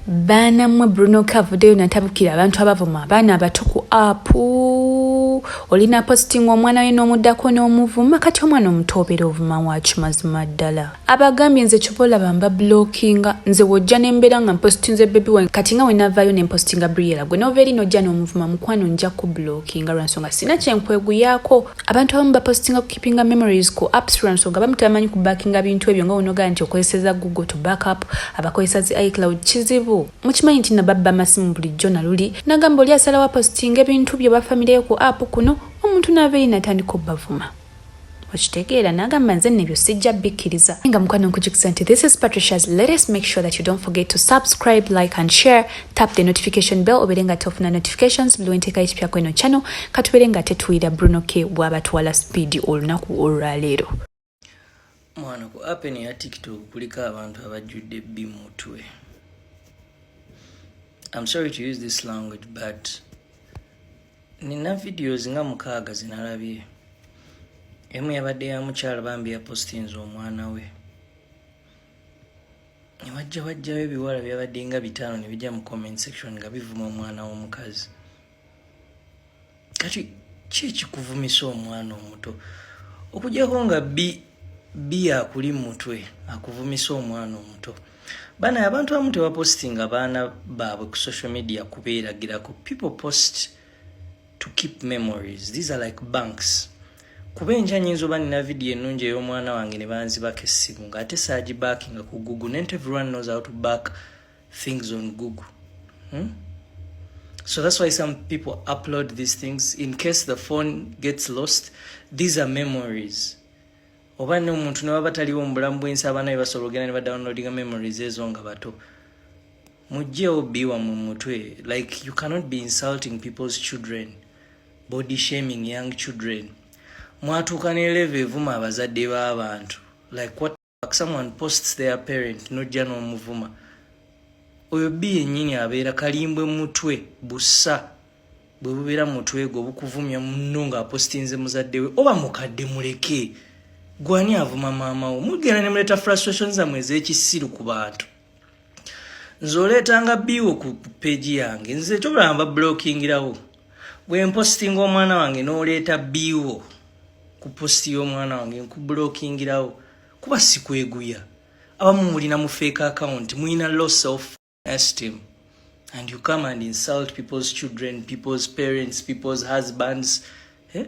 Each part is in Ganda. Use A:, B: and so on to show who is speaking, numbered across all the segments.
A: baana mmwe bruno ka avuddeyo natabukira abantu abavuma abaana abato ku apu olina posting omwana we n'omuddako n'omuvuma kati omwana omuto obeera ovuma waaki mazima ddala abagambye nze kyoba olaba mba blockinga nze wojja nembeera nga mpostinze bebi wange kati nga wenavaayo nempostinga briela gwe nova eri nojja n'omuvuma mukwano nja ku blockinga lwansonga sina kyenkweguyaako abantu abamu bapostinga keepinga memories ku apps lwa nsonga bamu tebamanyi ku backinga bintu ebyo nga wonogaa nti okozeseza google to backup abakozesa zi icloud kizibu mukimanyi nti nababba amasimu bulijjo naluli nagamba oli asalawo apostinga ebintu byo bafamireyo ku app kuno omuntu naava eyi natandika obbavuma okitegeera nagamba nze nebyo sijja bikkiriza nga mukwano nkujukisa nti this is patricias let us make sure that you don't forget to subscribe like and share tap the notification bell obere nga tofuna notifications buli wenteka ekipya kweno channel katubere nga tetuwira bruno k bwabatwala speed olunaku olwaleero
B: mwana ku apen ya tiktok kuliko abantu abajjudde bi mutwe im sorry to use this language but nina videos nga mukaaga zinalabye emu yabadde ya mukyala bambi yapostinze omwana we newajja wajjawo ebiwala byabadde nga bitaano nebijja mu comment section nga bivuma omwana w'omukazi kati ki ekikuvumisa omwana omuto okujjako nga bi bi akuli mu mutwe akuvumisa omwana omuto bana abantu abamu tebapositinga baana baabwe ku social media kubeeragirako people post to keep memories these are like banks kuba enkya nyinza oba nina vidiyo ennungi ey'omwana wange ne banzibako essimu ng'ate saagi backinga ku google nent everyone knows how to back things on google hmm? so that's why some people upload these things in case the phone gets lost these are memories oba ne omuntu ne baba taliwo mu bulamu bw'ensi abaana be basobola ogenda ne badownloadinga memories ezo nga bato mujjeewo biwa mu mutwe like you cannot be insulting people's children body shaming young children mwatuuka ne leve evuma abazadde b'abantu like what someone posts their parent nojja n'omuvuma oyo bi yennyini abeera kalimbwe mutwe bussa bwe bubeera mu mutwe gwo bukuvumya munno ng'apositinze muzadde we oba mukadde muleke gwani avuma maama wo mugenda ne muleeta frustration zammwe ez'ekisiru ku bantu nze oleetanga biiwo ku peegi yange nze tobalamba blokingirawo bwe mpositinga omwana wange n'oleeta biiwo ku positi y'omwana wange nkublokingirawo kuba sikweguya abamu mulina mufeeka akawunti mulina loss of asked him and you come and insult people's children people's parents people's husbands eh?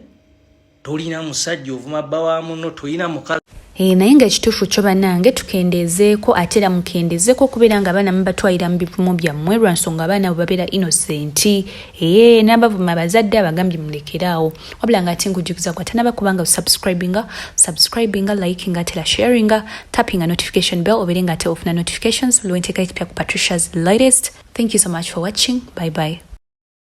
B: tolina musajja ovuma bba wa muno tolina mukazi eh, naye nga ekituufu
A: kyo banange tukendeezeeko ate era mukendeezeeko okubeera nga abaana mubatwalira mu bivumo byammwe lwa nsonga abaana bwe babeera innoseenti ee eh, n'abavuma abazadde abagambye mulekeraawo wabula nga ate ngujjukiza gwa tanaba kubanga subscribinga subscribinga likinga ate la sharinga tappinga notification bell obeere nga ate ofuna notifications lwenteeka ekipya ku patricias latest thank you so much for watching bye bye